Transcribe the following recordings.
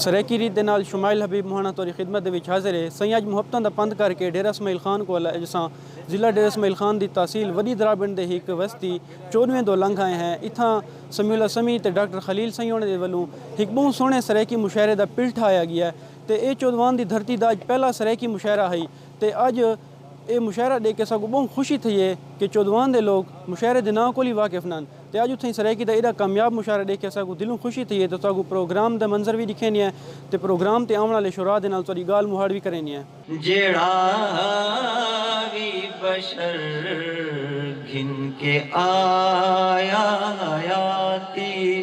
سرائیکی ریت دے نال شمائل حبیب مہاݨاں تہاݙی خدمت دے وچ حاضر ہے۔ سئیں اڄ محبتاں دا پندھ کر کے ڈیرہ اسماعیل خان کول آئے جساں ضلع ڈیرہ اسماعیل خان دی تحصیل وݙی دراݨ دے ہک وستی چوݙویں دو لنگھ آئے ہیں۔ اتھاں سمیع اللہ سمیع تے ڈاکٹر خلیل سئیں ہوݨیں دے ولوں ہک ٻہوں سوہݨے سرائیکی مشاعرے دا پل ٹھاہیا ڳیا تے ایہ چودھوان دی دھرتی دا اڄ پہلا سرائیکی مشاعرہ ہئی تے اڄ اے مشاعرہ ڈیکھ کے ساکوں بہوں خوشی تھئی اے کہ چودھوان دے لوک مشاعرے دے ناں کول ہی واقف نن تے اج اتھائیں سرائیکی دا ایڈا کامیاب مشاعرہ ڈیکھ کے ساکوں دلوں خوشی تھئی اے تے ساکوں پروگرام دا منظر وی ڈکھیندی اے تے پروگرام تے آونڑ آلے شعراء دے نال تہاڈی گالھ مہاڑ وی کریندی اے۔ جیڑھا وی بشر گھن کے آیا حیاتی۔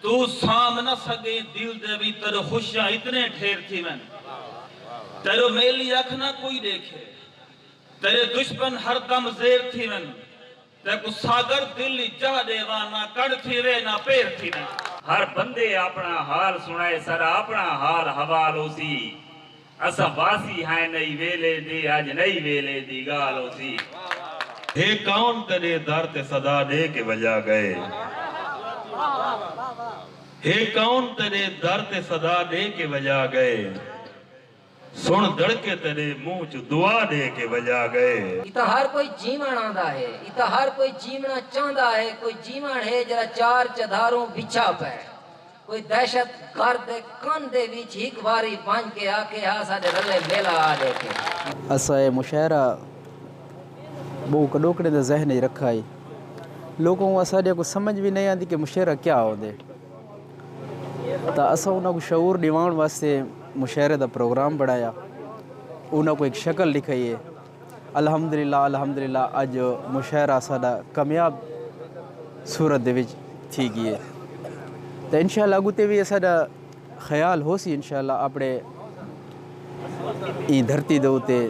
توں سانبھ نہ سگیں دل دے وی تیڈو خوشیاں اتنے ڈھیر تھیون تیڈو میلی اکھ نہ کوئی ڈیکھے تیڈے دشمن ہر دم زیر تھیون تیکوں ساگر دل اچ جاہ ڈیواں نہ کڈھ تھیوے نہ پیر تھیون۔ ہر بندے آپنڑاں حال سنڑائے ساڈا آپنڑاں حال حوال ہوسی۔ اساں واسی ہیں نئی ویلے دے اج نئی ویلے دی گالھ ہوسی۔ ہے کون تیڈے در تے صدا ڈے کے وجا گئے۔ ہے کون تیڈے در تے صدا ڈے کے وجا گئے۔ سن دڑکے تیڈے منہ چوں دعا ڈے کے وجا گئے۔ اتھاں ہر کوئی جیوݨ آندا ہے۔ اتھاں ہر کوئی جیوݨا چاہندا ہے۔ کوئی جیوݨ ہے جیرھا چار چدھاروں وچھا پئے۔ کوئی دہشت گرد دے کن دے وچ ہک واری ونج کے آکھے ہا اساڈے رلے میلہ آ ڈیکھے۔ اساں اے مشاعرہ بہوں کڈوکڑیں دے ذہن وچ رکھا ہئی۔ لوکاں کوں اساڈیاں کوں سمجھ وی نئیں آندی کہ مشاعرہ کیا ہوندے۔ تاں اساں انہاں کوں شعور ڈیواون واسطے مشاعرے دا پروگرام بنڑایا۔ انہاں کوں ہک شکل ڈکھائی ہے۔ الحمدللہ الحمدللہ اج مشاعرہ ساڈا کامیاب صورت دے وچ تھی گیے تے انشاءاللہ اگوں تے وی اساڈا خیال ہوسی انشاءاللہ اپنے ایں دھرتی دے اتے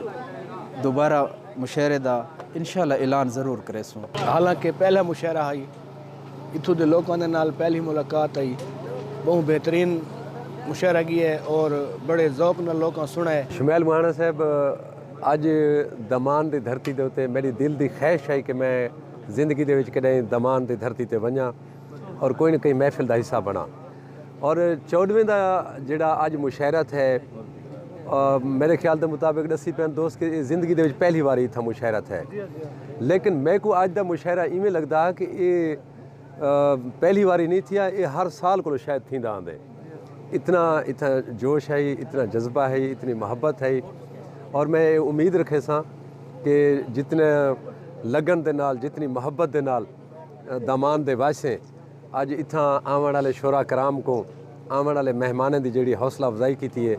دوبارہ مشاعرے دا انشاءاللہ اعلان ضرور کریسوں۔ حالانکہ پہلا مشاعرہ ہئی اتھوں دے لوکاں دے نال پہلی ملاقات ہئی بہوں بہترین مشاعرہ گیے اور بڑے ذوق نال لوکاں سنڑائے۔ شمیل مہاݨا صاحب اج دمان دی دھرتی دے اتے میڈی دل دی خواہش ہئی کہ میں زندگی دے وچ کڈہیں دمان دی دھرتی تے ونجاں اور کوئی نہ کہیں محفل دا حصہ بناں اور چوڈویں دا جیڑھا اج مشاعرہ تھئے میڈے خیال دے مطابق ڈسی پئن دوست کہ اے زندگی دے وچ پہلی واری اتھاں مشاعرہ تھئے لیکن میکوں اج دا مشاعرہ ایویں لگدا کہ اے پہلی واری نئیں تھیا اے ہر سال کولو شاید تھیندا آندے۔ اتنا اتھاں جوش ہئی اتنا جذبہ ہئی اتنی محبت ہئی اور میں یہ امید رکھے ساں کہ جتنے لگن دے نال جتنی محبت دے نال دامان دے واسیں اج اتھاں آون والے شورا کرام کو آون والے مہمانیں دی جڑی حوصلہ افزائی کیتی ہے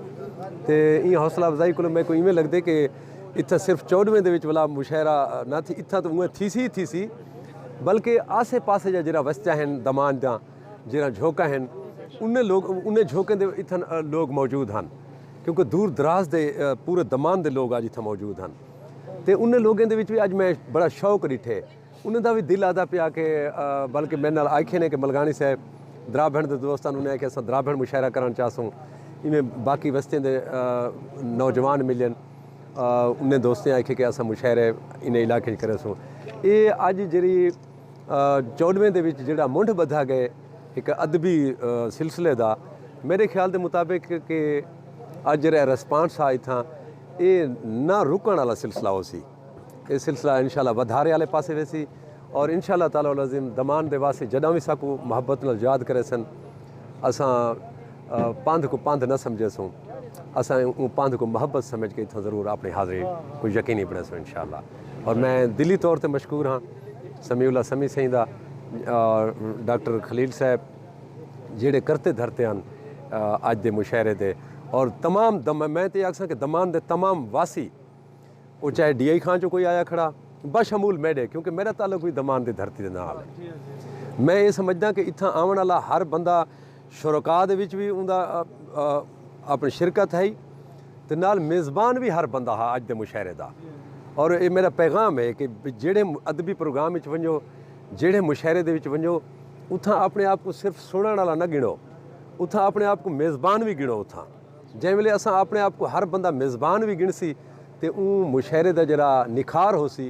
تے این حوصلہ افزائی کو میں کو ایویں لگدے کہ اتھاں صرف چوڈویں دے وچ ولا مشاعرہ نہ تھی اتھاں تو اوہ تھی سی تھی سی بلکہ آسے پاسے جڑا وستا ہیں دامان دا جیرھاں جھوکاں ہن انھیں لوک انھیں جھوکیں دے اتھاں لوک موجود ہن کیونکہ دور دراز دے پورے دمان دے لوک اج اتھاں موجود ہن تے انھیں لوکیں دے وچ وی اج میں بڑا شوق ڈٹھے انھیں دا وی دل آہدا پیا کہ بلکہ میڈے نال آکھے نے کہ ملگاݨی صاحب درابھݨ دے دوست ہن انھیں آکھیا اساں درابھݨ مشاعرہ کرݨ چاہسوں ایویں باقی وستیں دے نوجوان ملین انھیں دوستیں آکھے کہ اساں مشاعرے انھیں علاقے وچ کریسوں اے اج جیرھی چوݙویں دے وچ جیڑھا منڈھ ٻدھا ڳئے ہک ادبی سلسلے دا میݙے خیال دے مطابق کہ اڄ جیڑھا ریسپانس ہا اتھاں اے نہ رکݨ آلا سلسلہ ہوسی۔ اے سلسلہ انشاءاللہ ودھارے آلے پاسے ویسی اور انشاءاللہ تعالی العظیم دمان دے واسے جݙاں وی ساکوں محبت نال یاد کریسن اساں پندھ کوں پندھ نہ سمجھیسوں اساں اوں پندھ کوں محبت سمجھ کے اتھاں ضرور آپݨی حاضری کوں یقینی بݨیسوں انشاءاللہ اور میں دلی طور تے مشکور ہاں۔ سمیع اللہ سمیع سئیں دا اور ڈاکٹر خلیل صاحب جیڑھے کرتے دھرتے ہن اج دے مشاعرے دے اور تمام دم میں تے آکھساں کہ دمان دے تمام واسی او چاہے ڈی آئی خان چوں کوئی آیا کھڑا بشمول میڈے کیونکہ میرا تعلق بھی دمان دی دھرتی دے نال ہے میں اے سمجھداں کہ اتھاں آون والا ہر بندہ شرکاء دے وچ وی اوندا اپݨی شرکت ہئی تے نال میزبان وی ہر بندہ ہا اڄ دے مشاعرے دا اور ایہ میݙا پیغام ہے کہ جیڑھے ادبی پروگرام وچ ونڄو جیڑھے مشاعرے دے وچ ونڄو اتھاں اپݨے آپ کوں صرف سݨݨ آلا نہ ڳݨو اتھاں اپݨے آپ کوں میزبان وی ڳݨو اتھاں جئیں ویلے اساں اپݨے آپ کوں ہر بندہ میزبان وی ڳݨسی تے اوں مشاعرے دا جیڑھا نکھار ہوسی